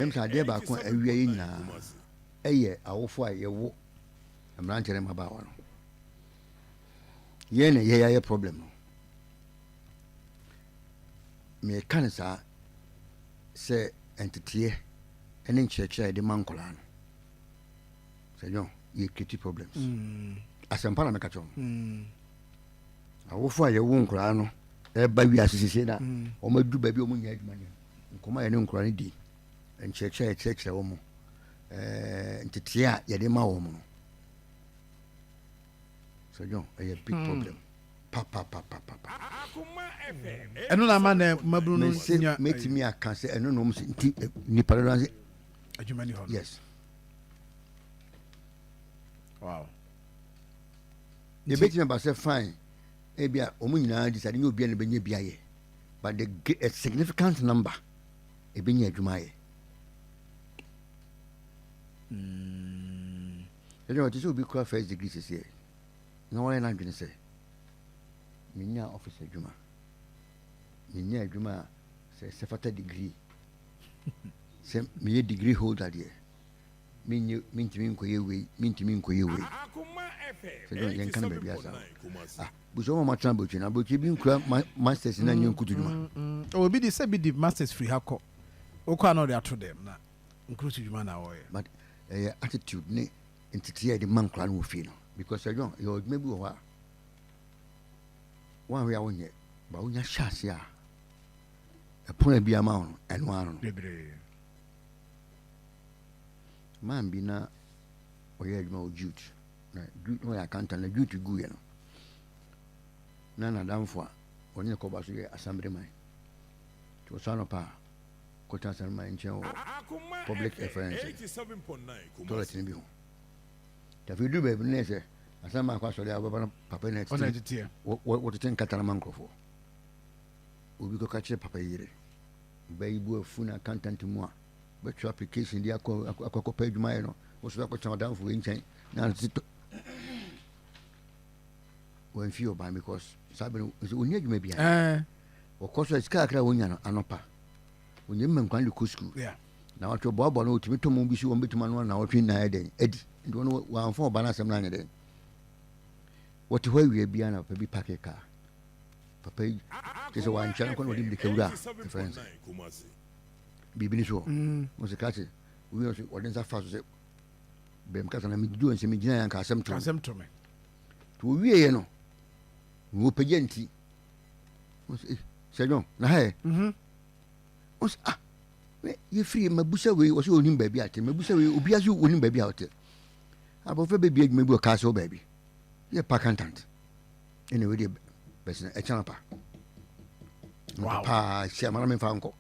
Ɛwom sɛ adeɛ baako a awia yɛn nyinaa yɛ awofoɔ a yɛwo mmeranteɛ ne mmabaawa no, yɛn na ɛyɛ yɛayɛ problem no. Meka no saa sɛ nteteɛ ne nkyerɛkyerɛ a yɛde ma nkwadaa no, sɛ nyɛ yɛ create problems. Mm. Asɛmpa na meka kyerɛ wɔn. Mm. Awofoɔ a yɛwo nkwadaa no ɛba wiase sese na mm. wɔn adu baabi a wɔn nyɛ adwuma no. Nkɔmmɔ a yɛne nkwadaa no di, nkyerɛkyerɛ a yɛkyerɛkyerɛ wɔn, ntetee a yɛde ma wɔn no. Sɛ John, ɛyɛ big hmm. problem. ɛno na ama na mmabunu no nya mɛtumi aka sɛ ɛno na ɔm sɛ nti eh, nnipa dodoɔ sɛ adwuma ni hɔ no yes wow yɛbɛtumi aba sɛ fine ebia ɔmo nyinaa de sɛ ade nyɛ obia na bɛnya bi ayɛ but the a significant number ebenya adwuma ayɛ ɛna ɔte sɛ obi kura first degree sɛsɛ na wɔyɛ n'adwene sɛ menya office adwuma menya adwuma a sɛ sɛ fata degree sɛ meyɛ degree holder deɛ menyɛ mentumi nkɔyɛ wei mentumi nkɔyɛ wei sɛdeɛ yɛnka no baabi asa ah busua ma matena aburokyire na aburokyire bi nkura masters na nyɛ nkutu dwuma mm, mm, mm. obi di sɛ bi di masters firi ha kɔ wokɔ a na ɔde ato dɛm na nkurusu dwuma na wɔyɛ but ɛyɛ eh, attitude ne nteteɛ a yɛde ma nkora no wɔ fie no because ɛdwon eh, yɛwɔ adwuma bi wɔ hɔ a woanwe a wonyɛ ba wonya hyɛ ase a ɛpono a bi ama wo no ɛno ano no man bi na ɔyɛ adwuma wɔ jute na jute ɔyɛ akanta na jute guiɛ no na n'adamfo a ɔne ne kɔba so yɛ asambere man nti ɔsɔ anɔpa a kɔtena asambere man nkyɛn wɔ public reference toilet no bi ho tafi duru baabi no yɛ sɛ asambere man akɔ asɔre a wɔbɛba no papa na ɛtete wɔtete nkata no ma nkurɔfoɔ obi kɔka kyerɛ papa yi yere ɔbaa yi bu afu na akanta nti mu a Wobɛtwerɛ application de akɔ akɔkɔpɛ adwuma ayɛ no wo so akɔtena ɔdamfo wei nkyɛn na titɔ wɔmfi ɔban because saa bere ɔni adwuma biara wɔkɔ so sika kakra wɔnya no anɔpa ɔnya mma nkwan de kɔ sukuu na wɔtwe ɔboaboa no wɔtumi tɔmɔ bi so wɔn bɛtumi ano na wɔtwe nnan dɛn adi nti wɔn wɔamfa ɔba no asɛm no anyɛ dɛn wɔte hɔ awia biara na papa bi pake kaa papa yi kyɛ sɛ wɔankyɛ no kɔ na wɔde mmirika wura a ɛfrɛ nsa biribi no so hɔ mm. ɔsɛ kra se owi ɔsɛ ɔde nsa fa so sɛ bɛm kasa na megyina nsɛ megyina yɛ anka asɛm tɔasɛm tɔ me nti ɔwieɛ no na wɔpagya nti eh, sɛ dwon na ha ɛ mhm. ɔsɛ ah yɛfiri mabusa wei ɔsɛ ɔnim baabi ate mabusa wei obia so ɔnim baabi a ɔte abɔfra bɛbi adwuma bi ɔkaa sɛ wɔ baabi yɛ pa kantant ɛna wei deɛ bɛsena ɛkyɛn pa paa hyia ma na memfa nkɔ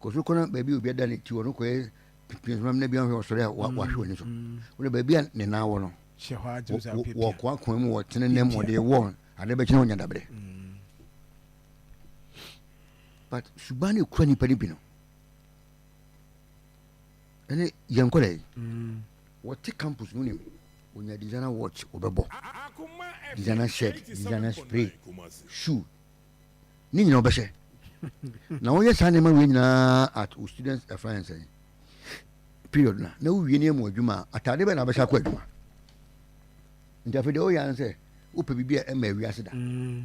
kɔ so kɔ na baabi a obi ada ne ti wɔ no kɔyɛ pinsoma na bi ahwɛ ɔsɔre a mm. wahwɛ w'ani so mm. wode baabi a ne nan wɔ no wɔkoakoa mu wɔtene nam wɔde wɔ ade bɛkyena wonya daberɛ mm. but suba no ɛkura nnipa no bi no ɛne yɛn nkɔda yi wɔte campus no nim onya designer watch wɔbɛbɔ designer shirt designer spray shoe ne nyina wobɛhyɛ na woyɛ saa nneɛma wei nyinaa at wo student ɛfra yɛn sɛn period na na wowie ne mu adwuma a atade bɛn na wobɛhyɛ akɔ adwuma nti afei deɛ woyɛ ano sɛ wopɛ biribi a ɛma awi ase da mm.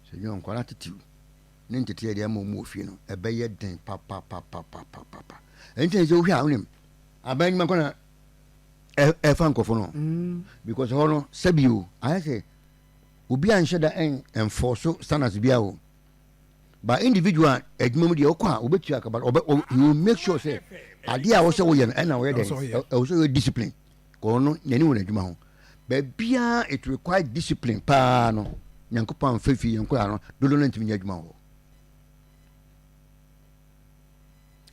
sɛ nyɛ nkwara titiw ne nteteɛ deɛ ɛma ɔmu wɔ fie no ɛbɛyɛ den papapapapapapa ɛnti ne sɛ wohwɛ a wonim aban adwuma kɔ na ɛfa nkurɔfo no mm. because hɔ no sɛbio ayɛ sɛ obi anhyɛ da ɛn enforce standards biara o but individual adwuma mu deɛ ɔkɔ a ɔbɛtua aka but ɔbɛ ɔ he will make sure sɛ adeɛ a wɔhyɛ wɔyɛ no ɛna wɔyɛ dɛn ɛwɔ sɛ wɔyɛ discipline kɔɔ no n'ani wɔ n'adwuma ho baabiara it require discipline paa no nyankopɔn amfa fie yɛn koraa no dodo no ntumi nyɛ adwuma wɔ hɔ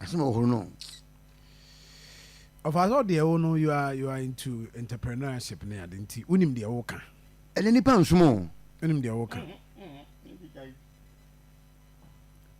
asɛm wɔ hɔ no Ɔfaa sɛ ɔde ɛwo no you are you are into entrepreneurship ne ade nti wonim deɛ woka. Ɛnɛ nipa nsom o. Wonim deɛ woka.